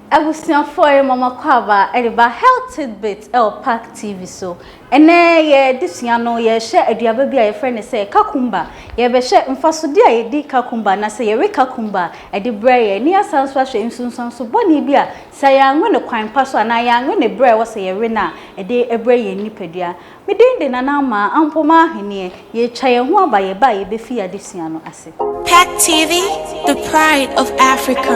Abusuafoɔ yɛ Mama Kwaaba de ba Health Tidbits wɔ Park TV so. Ɛnnɛ yɛ adesua no yɛrehwɛ aduaba bi a yɛfrɛ no sɛ Kakumba. Yɛrebɛhwɛ mfasodeɛ a yɛdi Kakumba anaasɛ yɛwe Kakumba de brɛ yɛn. Ne yɛasan nso ahwɛ nsunsuanso bɔne bi a sɛ yɛanwe no kwan pa so anaa yɛanwe no berɛ a ɛwɔ sɛ yɛwe no a ɛde brɛ yɛn nipadua. Me din de Nana Amaa Ampomah Ahenneɛ. Yɛretwa yɛn ho aba yɛn ba a yɛbɛfiri adesua no ase. Pact TV, the pride of Africa.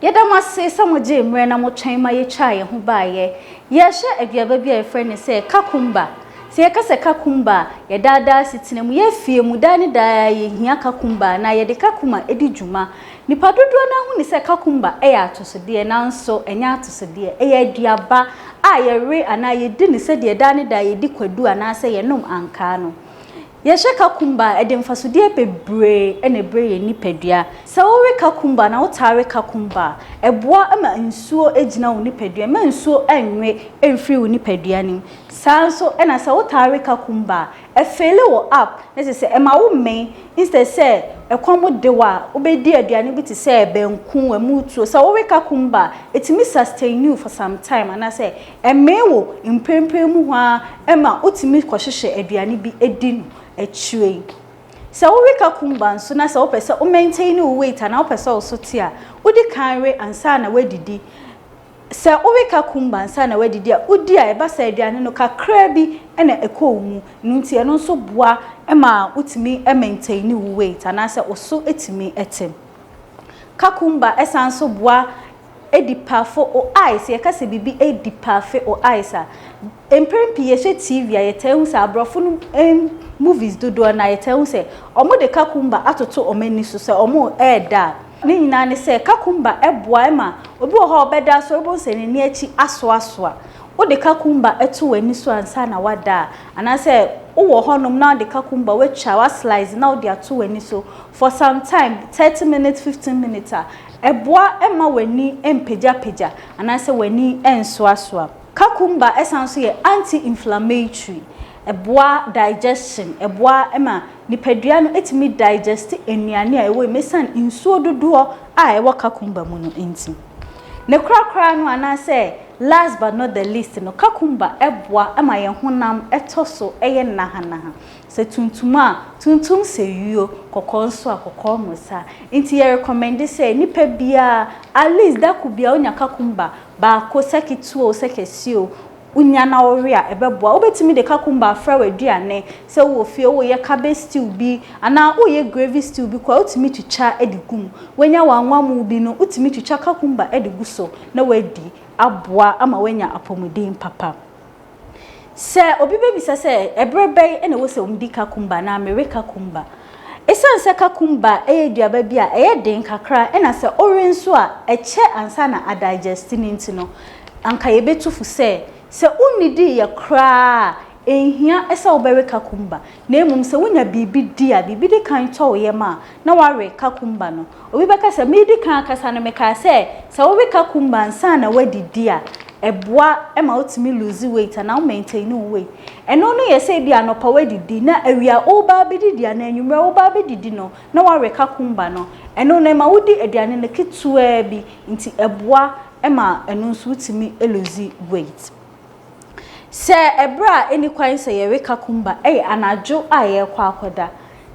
Yɛda mo ase sɛ mogyee mmerɛ na motwɛn ma yɛtwaa yɛn ho baeɛ. Yɛrehwɛ aduaba bi a yɛfrɛ no sɛ kakumba. Sɛ yɛka sɛ kakumba a, yɛn daa daa asetena mu, yɛn afie mu, daa ne daa ara yɛhia kakumba anaa yɛde kakuma di dwuma. Nnipa dodoɔ no ara hunu sɛ kakumba yɛ atosodeɛ, nanso ɛnyɛ atosodeɛ. Ɛyɛ aduaba a yɛwe anaa yɛdi no sɛdeɛ daa ne daa yɛdi kwadu anaasɛ yɛnom ankaa no. Yɛhwɛ kakumba a, ɛde mfasodeɛ bebree na ɛbrɛ yɛn nipadua. Sɛ wowe kakumba anaa wotaa we kakumba a, ɛboa ma nsuo gyina wo nipadua mu, ɛmma nsuo nnwe mfiri wo nipadua no mu. Saa ara nso na sɛ wotaa we kakumba a, Ɛfeele wɔ app ne te sɛ ɛma wo mmɛn instead sɛ ɛkɔm de wo a wobɛdi aduane bi te sɛ banku, ɛmu tuo. Sɛ wowe kakumba a, ɛtumi sustain you for some time anaasɛ ɛmee wo mprempren mu hɔ ara ɛma wotumi kɔhyehyɛ aduane bi di no akyire yi. Sɛ wowe kakumba nso na sɛ wopɛ sɛ wo maintain wo weight anaa wopɛ sɛ wo so te a, wodi kan we ansa na woadidi Sɛ woreka kumba ansa na woedidi a, wo di a eba saa eduane no kakraa bi na ekɔ wo mu, no ntsi ɛno nso boa ma wotumi maintaini wo weight anaasɛ wo so tumi tse. Kakumba san nso boa edipafo o eyes, yɛka sɛ biribi edipafe o eyes a, mper pii yɛhwɛ TV a yɛtaa hu sɛ aborɔfo no hɔn movies dodoɔ no a yɛtaa hu sɛ wɔde kakumba atoto wɔn ani so sɛ wɔreda a, Ne nyinaa ne sɛ kakumba boa ma obi wɔ hɔ a ɔbɛda asɔre wobɛhu sɛ n'ani akyi asoasoa. Wode kakumba to w'ani so ansa na woada a, anaasɛ wowɔ hɔnom na wode kakumba, woatwa, woaslice na wode ato w'ani so for some time, thirty minutes, fifteen minutes a, ɛboa ma w'ani mpagyapagya anaasɛ w'ani nsoasoa. Kakumba san nso yɛ anti-inflammatory. Ɛboa digestion, ɛboa ma nipadua no tumi digest nnuane a ɛwɔ mu ɛsiane nsuo dodoɔ a ɛwɔ kakumba mu no nti. Ne korakora no anaa sɛ last but not the least no, kakumba boa ma yɛn honam tɔ so yɛ nahanaha. Sɛ tuntum a, tuntum sɛ yuo, kɔkɔɔ nso a, kɔkɔɔ mmosa. Nti yɛ recommend sɛ nipa biara at least dako biara ɔnya kakumba baako, sɛ ketewa o, sɛ kɛseɛ o. Wunya na wowe a, ɛbɛboa. Wubetumi de kakumba afra w'aduane. Sɛ wowɔ fie, woreyɛ cabbage stew bi anaa woreyɛ gravy stew bi koraa a, wutumi twitwa de gu mu. Woanya w'anwammo bi no, wutumi twitwa kakumba de gu so na woadi. Aboa ama woanya apɔmuden papa. Sɛ obi bebisa sɛ, Bere bɛn na ɛwɔ sɛ midi kakumba anaa mewe kakumba? Esiane sɛ kakumba yɛ aduaba bi a ɛyɛ den kakra na sɛ ɔwe nso a ɛkyɛ ansa na adigeste no nti no, anka yebetu fo sɛ, sɛ wunnidii yɛ koraa a, enhia sɛ wobɛwe kakumba. Na mmom sɛ wunya biribi di a biribi di kan tɔ wo yam a, na woawe kakumba no. Obi bɛka sɛ, Meredi kan akasa no, mekaa sɛ, sɛ woreka kumba ansa na woadidi a, ɛboa ma wotumi lose weight anaa wo maintain wo weight. Ɛno no yɛ sɛ ebia anɔpa woadidi, na awia woreba abɛdidi anaa anwummerɛ woreba abɛdidi no, na woareka kumba no. Ɛno no, ɛma wodi aduane no ketewaa bi, nti ɛboa ma ɛno nso wotumi lose weight. Sɛ ɛberɛ a ɛnni kwan sɛ yɛwe kakumba yɛ anadwo a yɛrekɔ akɔda.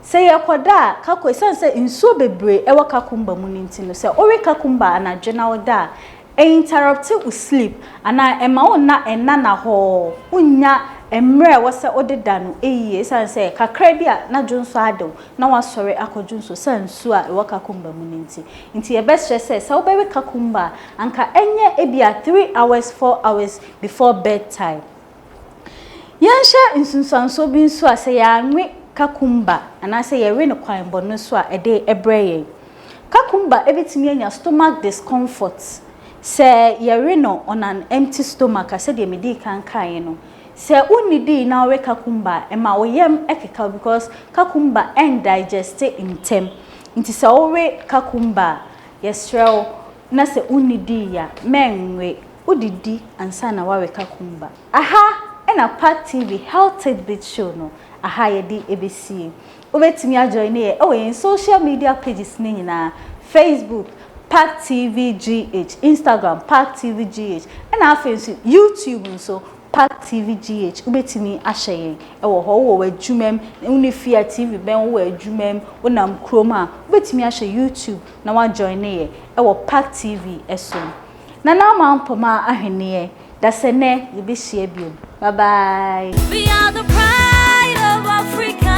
Sɛ yɛrekɔda a, kako, ɛsiane sɛ nsuo bebree wɔ kakumba mu no nti no, sɛ wowe kakumba anadwo na woda a, ɛ interrupt wo sleep anaa ɛma wo nna nnana hɔɔ, wonnya mmerɛ a ɛwɔ sɛ wode da no yie ɛsiane sɛ kakra bi a na dwonsɔ ade wo na woasɔre akɔ dwonsɔ ɛsiane nsuo a ɛwɔ kakumba mu no nti. Nti yɛbɛsrɛ sɛ, sɛ wobɛwe kakumba a, anka ɛnyɛ ebia three hours four hours before bed time. Yɛnhyɛ nsunsuansoɔ bi nso a sɛ yɛanwe kakumba anaasɛ yɛwe no kwan bɔne so a ɛde brɛ yɛn. Kakumba bɛtumi anya stomach discomfort sɛ yɛwe no on an empty stomach a sɛdeɛ medii kan kaeɛ no. Sɛ wonnidii na wowe kakumba a ɛma wo yam keka wo because kakumba ɛndigeste ntɛm nti sɛ wowe kakumba a Yɛsrɛ wo, na sɛ wonnidii a, mɛ nwe. Wodidi ansa na woawe ka kumba. Aha na Park TV Health Tidbits Show no aha yɛde ɛbɛsie. Wobɛtumi ajoine yɛ wɔ yɛn social media pages no nyinaa, Facebook, Park TV GH, Instagram, Park TV GH, ɛna afei nso YouTube nso, Park TV GH, Wobɛtumi ahyɛ yɛn wɔ hɔ wowɔ w'adwuma mu, wo ne fie a TV bɛn wowɔ adwuma mu, wonam kurom a, wobɛtumi ahyɛ YouTube na woajoine yɛ wɔ Park TV so. Nana Ama Mpoma Ahweneɛ, Dasɛnɛ yɛbɛhyia biom. Bye bye. We are the pride of Africa.